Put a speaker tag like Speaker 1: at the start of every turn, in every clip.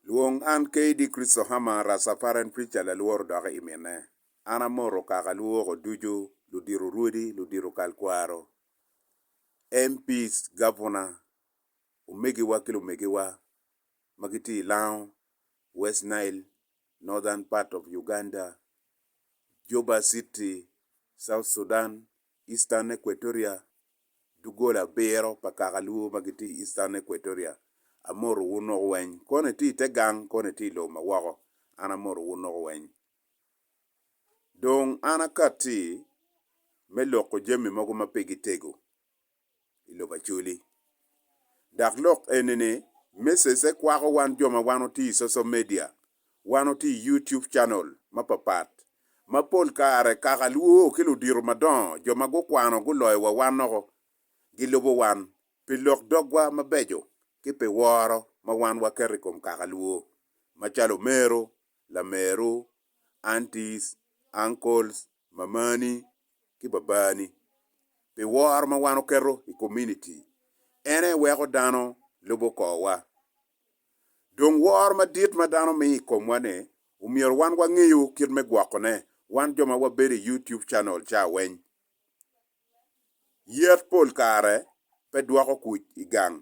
Speaker 1: Lwong an KD Christohammer Rastafarian Preacher Lalworo dok i minne. An amoto kaka luwoko ducu, ludito rwodi, ludito kal kwaro, MPs, gabuna, omegiwa ki lumegiwa ma gitye i Lango, West Nile, Northern part of Uganda, Juba City, South Sudan, Eastern Equatoria, duggola abiro pa kaka luo ma gitye i Eastern Equatoria, amoto wun woko weny, koni itye i te gang, koni itye i lobo ma woko, an amoto wun woko weny. Dong an akatti me loko jami mogo ma pe gitego. i lobo Acholi. Dok lok eni ni message-e kwako wan jo ma wan otiyo i social media, wan otiyo i YouTube channel mapapat, ma pol kare kaka lwoo ki ludito madongo, jo ma gukwano guloyo wa wan noko, gilubo wan pi lok dogwa mabeco ki pi woro ma wan waketo i kom kaka lwoo, macalo omero, lameru, aunties, uncles, mamani ki Babani pi woro ma wan oketo i kominiti, en aye weko dano lubo korwa. Dong woro madit ma dano miyo i komwa-ni, omyero wan wangeyo kit me gwokone, wan jo ma wabedo i YouTube Channel ca weny. Yet pol kare pe dwoko kuc i gang.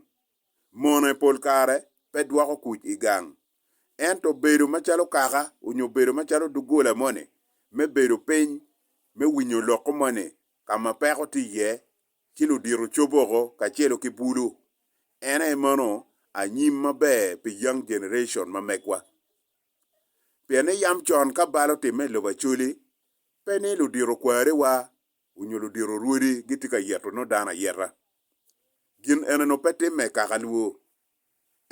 Speaker 1: Mone pol kare pe dwoko kuc i gang. Ento bedo macalo kaka onyo bedo macalo doggola moni me bedo piny me winyo loko moni ka ma peko tye iye ci ludito coboko kacelo ki bulu en aye mano anyim maber pi young generation ma megwa. Pien ni yam con ka bal otimme i lobo Acholi pe ni ludito kware wa onyo ludito orwodi gitye ka yeto nongo dano ayeta. Gin eneno pe timme i kaka lwo.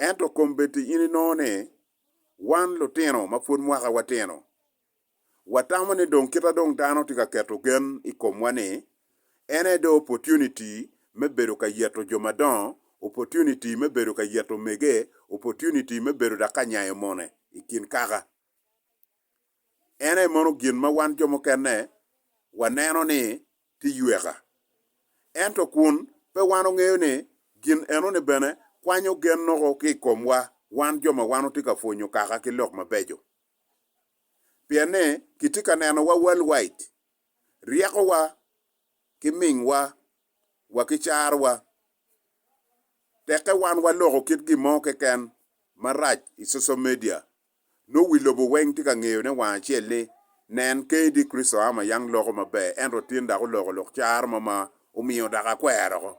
Speaker 1: Ento kombeddi in inongo ni wan lutino ma pwod mwaka wa tino, watamo ni dong kita dong dano tye ka keto gen i komwa ni en aye dong opportunity me bedo ka yeto jo madongo, opportunity me bedo ka yeto omege, opportunity me bedo dok ka nyayo mone i kin kaka. En aye mono gin ma wan jo mukene waneno ni tye yweka. Ento kun pe wan ongeyo ni gin enoni bene kwanyo gen noko ki i komwa wan jo ma wan watye ka pwonyo kaka ki lok mabeco. Pien ni kitye ka neno wa world wide, ryekowa ki mingwa wa ki carwa tekke wan waloko kit gin mo keken marac i social media Nongo wi lobo weng tye ka ngeyone wang acel ni, Nen, kadi Kricito a ma yang loko maber, ento otin dok oloko lok caro mo ma omiyo dok akwero oko.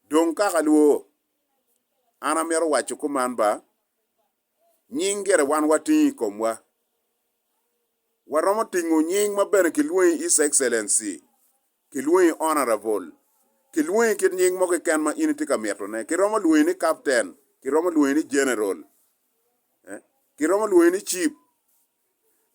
Speaker 1: Dong kaka lwo, an amito waco kuman ba, nying gire wan watingo i komwa, waromo tingo nying ma bene kilwongi His Excellency, kilwongi Honourable, kilwongi kit nying mo keken ma in itye ka mitone. Kiromo lwongi ni Captain, kiromo lwongi ni General, kiromo lwongi ni Chief.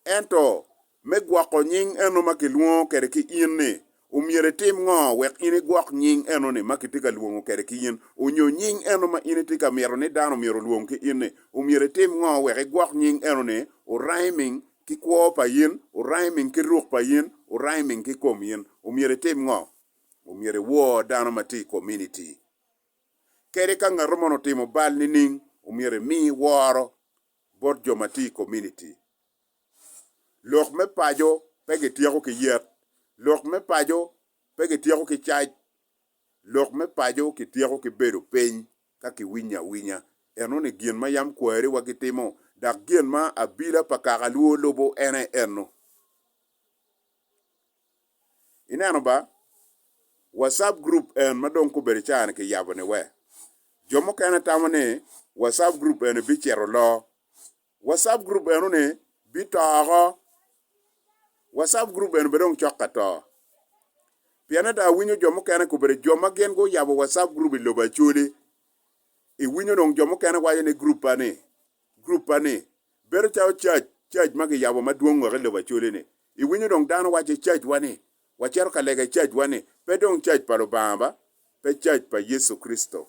Speaker 1: Ento me gwoko nying eno ma kilwongo kwede ki in-ni, Omyero itim ngo wek in igwok nying eno-ni ma kitye ka lwongo kwede ki in? Onyo nying eno ma in itye ka mito ni dano myero olwong ki in-ni? Omyero itim ngo wek igwok nying eno-ni? Oraiming ki kwo pa in, oraiming ki ruk pa in, oraiming ki kom in. Omyero itim ngo? Omyero iwor dano ma tye i kominiti kedi. Ka ngato mono otimo bal nining, omyero imi woro bot jo ma tye i kominiti. Lok me paco pe gityeko ki yet. Lok me paco pe gityeko ki cac. Lok me paco kityeko ki bedo piny ka kiwinyo awinya. Eno ni gin ma yam kwariwa gitimo, dok gin ma abila pa kakalwo lubo en aye eno. Ineno ba, WhatsApp group en ma dong kobedo caa-ni kiyabo-ni we? Jo mukene tamo ni WhatsApp group eni bicito loo, WhatsApp group eno ni bito oko. WhatsApp group eno bene dong cok ka to. Pien ada awinyo jo mukene kubere jo ma gin gu yabo WhatsApp group i lobo Acholi. I winyo dong jo mukene waco ni group pa ni, group pa ni. Bedo calo church, church ma gi yabo madwong woko i lobo Acholi ni. I winyo dong dano waco i church wa ni, wa cito ka lega i church wa ni, pe dong church pa Lubanga ba, pe church pa Yecu Kricito.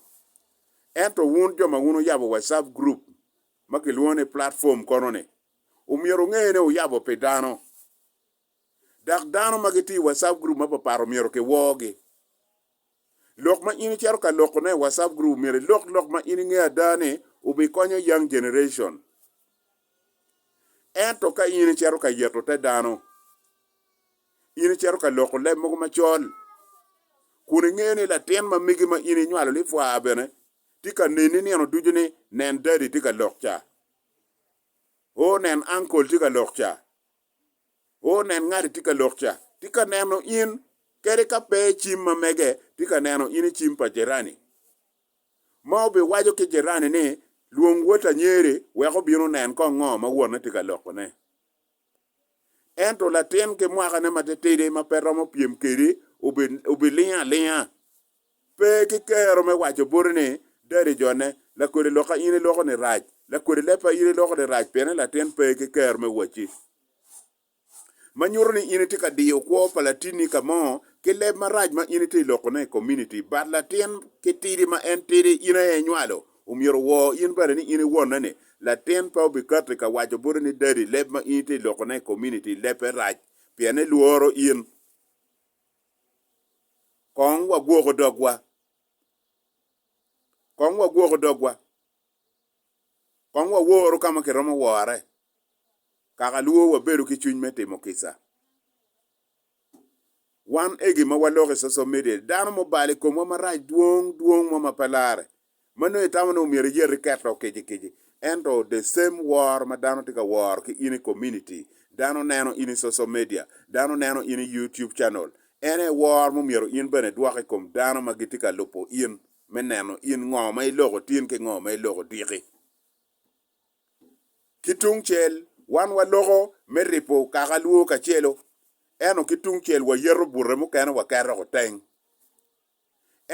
Speaker 1: Ento wun jo ma wun wuyabo WhatsApp group ma kilwongo ni platform kono-ni omyero onge ni oyabo pi dano, dok dano ma gitye i WhatsApp group mapapat omyero kiwoogi. Lok ma in icito ka lokone i WhatsApp group omyero ilok lok ma in ingeyo ada ni obikonyo young generation. Ento ka in icito ka yeto te dano, in icito ka loko leb mogo macol, kun ingeyo ni latin ma megi ma in inywalo lipwaa bene Tye ka neni nino ducu ni nen dadi tye ka lok ca. O, nen ankol tye ka lok ca. O, nen ngati tye ka lok ca. Tye ka neno in, kadi ka pe i cim ma mege, tye ka neno in i cim pa jirani. Ma obiwaco ki jirani ni, Lwong wot anyeri wek obin onen kong ngo ma wonne tye ka lokone. Ento latin ki mwakane matitidi ma pe romo pyem kedi obilingo alinga. Pe ki kero me waco boti ni, Dadi jone, lakodi lokka in iloko ni rac, lakodi leppa in iloko ni rac piene latin pe ki kero me wacci. Ma nyuto ni in itye ka diyo kwo pa latinni ka mo ki leb marac ma in itye ilokone i komuniti. Bat latin ki tidi ma en tidi in aye inywalo, Omyero wor in bene ni in i wonne ni latin pe obikatti ka waco boti ni daddy leb ma in itye loko ne i community leb pe rac pien elworo in. Kong wagwoko dogwa. Kong wagwoko dogwa. Kong waworu kama kiromo wore. Kaka lwor wabedo ki cwiny me timo kica. Wan egi ma waloko i social media, dano ma obalo i komwa marac dwong dwong mo ma pe larre, ma nongo itamo ni omyero iyati ket dok kici kici. Ento the same wor ma dano tye ka woro ki in i community, dano neno in i social media, dano neno in i YouTube channel, en aye wor ma omyero in bene idwok i kom dano ma gitye ka lubo in me neno in ngo ma iloko tin ki ngo ma iloko dyeki. Ki tung cel, wan waloko me ripo kaka lwo kacelo, ento ki tung cel wayeto bute mukene waketo woko teng.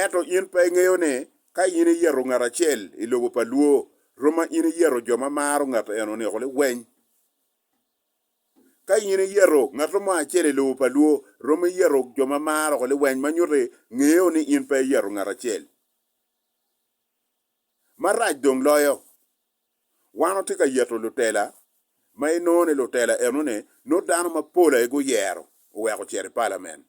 Speaker 1: Ento in pe ingeyo ni ka in iyeto ngat acel i lobo pa lwo, roma in iyeto jo ma maro ngat eno niko liweny. Ka in iyeto ngat mo acel i lobo pa lwo, roma iyeto jo ma maro woko liweny ma nyuti ngeyo ni in pe iyeto ngat acel. Marac dong loyo, wan watye ka yeto lutela, ma inongo ni lutela enoni nongo dano mapol aye guyero oweko ocito i palamen.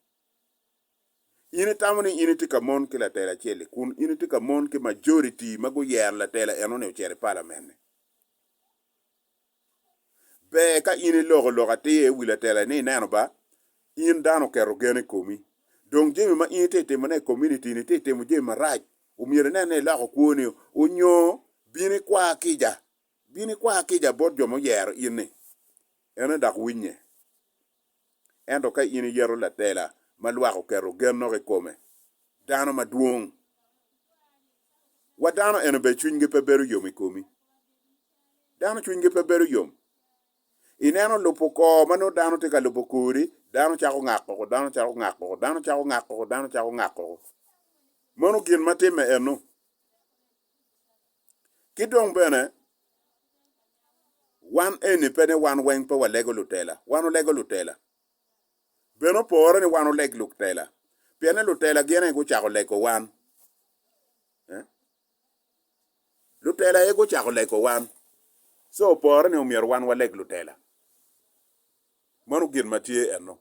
Speaker 1: In itamo ni in itye ka mon ki latela acel-li kun in itye ka mon ki majoriti ma guyero latela enoni ocito i palamen-ni. Ber ka in iloko lok atir i wi latela ni ineno ba, in dano oketo gen i komi, dong jami ma in itye ka timone i komunitini itye ka timo jami marac, omyero inen ni iloko kwoni nyo bin ikwa kica, bin ikwa kica bot jo ma oyero in-ni, ene dok winye. Ento ka in iyeto latela ma lwak oketo gen nok i kome, dano madwong wa dano eno bene cwinygi pe bedo yom i komi. Dano cwinygi pe bedo yom. Ineno lubo kor ma nongo dano tye ka lubo kori, dano cako ngak koko, dano cako ngak koko, dano cako ngak koko, dano cako ngak koko. Meno gin ma timme eno. Ki dong bene, wan eni pe ni wan weng pe walego lutela, wan olego lutela. Bene opore ni wan oleg lutela, pien ni lutela gin aye gucako lego wan. Lutela aye gucako lego wan, so opore ni omyero wan waleg lutela. Mano gin ma tye eno.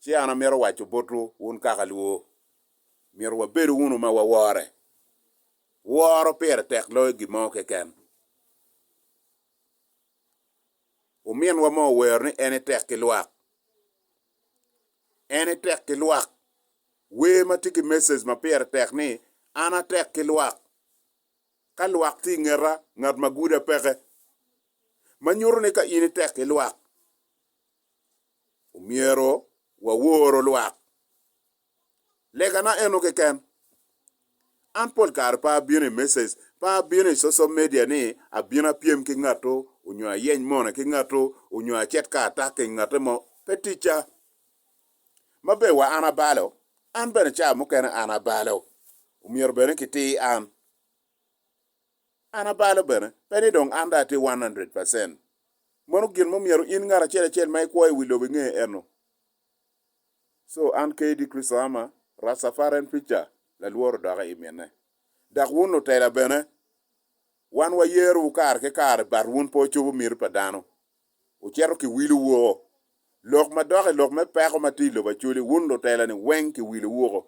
Speaker 1: Ci an amito waco botwu, wun kaka lwo, myero wabedu wunu ma wawore. Woro pire tek loyo gin mo keken. Ominwa mo owero ni en etek ki lwak. En etek ki lwak. Wer ma tye ki message ma pire tek ni, An atek ki lwak. Ka lwak tye i ngeta, ngat ma guda peke. Ma nyuto ni ka in itek ki lwak, Omyero wawor lwak. Legana eno keken. An pol kare pe abino i message, pe abino i social media ni abino apyem ki ngatu onyo ayeny mone ki ngatu onyo acit ka atak i ngate mo. Pe ticca. Ma ber wa an abalo, an bene ca mukene an abalo. Omyero bene kitir an. An abalo bene, pe ni dong an dong atye one hundred percent. Meno gin ma omyero in ngat acel acel ma ikwo i wi lobo inge eno. So, an KD Christo Ama, Rastafarian Preacher, lalworo doka i minne. Dok wun lutela bene, wan wayerowu kare ki kare but wun pe wucobo miti pa dano. Wucito kiwilowu woko. Lok ma dok i lok me peko ma tye i lobo Acholi, wun lutela-ni weng kiwilowu woko.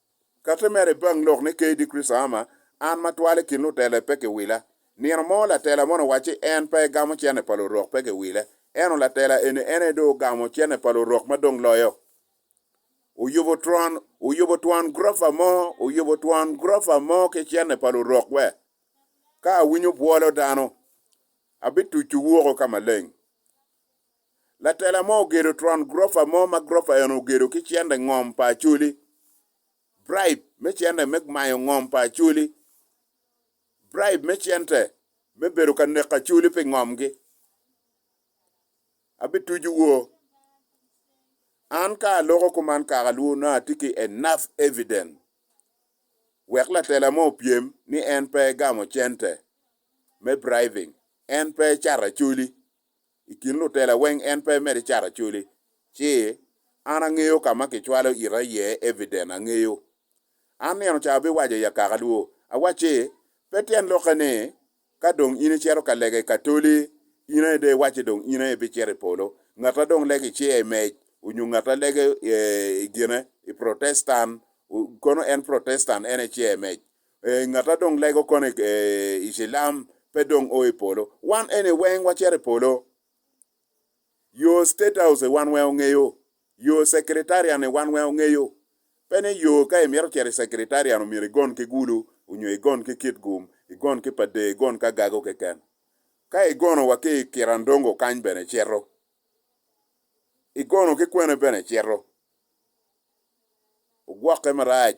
Speaker 1: Kati mere bang lok ni KD Chris Arma, an ma twal i kin lutele pe kiwila. Nino mo latela moni owacci en pe egamo cene pa lurok pe kiwile. Eno latela eni en aye dong ogamo cene pa lurok ma dong loyo. Oyubo twon, oyubo twon gurofa mo, oyubo twon gurofa mo ki cene pa lurok we. Ka awinyo bwolo dano, abitucu woko ka maleng. Latela mo ogedo twon gurofa mo ma gurofa eno ogedo ki cente ngom pa Acholi, bribe me cente me mayo ngom pa Acholi, bribe me cente me bedo ka neko Acholi pi ngomgi. Abitucu wo. An ka aloko kuman kaka lwu nongo atye ki enough evidence wek latela mo opyem ni en pe egamo cente me bribing, en pe ecato Acholi. I kin lutela weng en pe mere cat acoli. Ci, an angeyo ka ma kicwalo ita iye evident, angeyo. An nino ca abiwaco i akaka dwo, awacci, Pe tyen lokke ni, ka dong in icito ka lega i Katoli, in aye dong iwacci dong in aye ibicito i polo. Ngatta dong lege iciya i mec, onyo ngatta lege i gine, i Protestan, kono en Protestan en aye iciya i mec. Ee, ngat ma dong lego kono i i cilam pe dong o i polo. Wan eni weng wacito i polo. Yo State House-i wan weng ongeyo. Yo Secretariat-ni wan weng ongeyo. Pe ni yo ka imito cito i Secretariat omyero igon ki gulu, onyo igon ki kit gum, igon ki pa dee, igon ki agago keken. Ka igono wa ki i Kirandongo kany bene icito. Igono ki kwene bene icito. Ogwokke marac.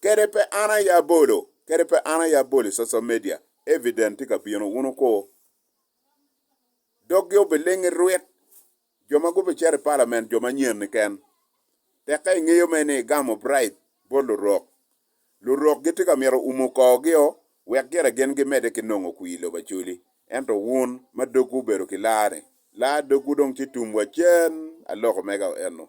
Speaker 1: Kede pe an aye abolo, kede pe an aye abolo i social media, evident tye ka bino, wun wuko. Doggi obiling irwit, jo ma gubicito i palament jo manyen niken. Tekke ingeyo mere ni igamo bribe bot lurok. Lurok gitye ka mito umo korgio wek gire gin gimedde ki nongo kwir i lobo Acholi. Ento wun ma dogwu obedo ki laa-ni, laa dogwu dong ci tum wacen, aloko mega eno.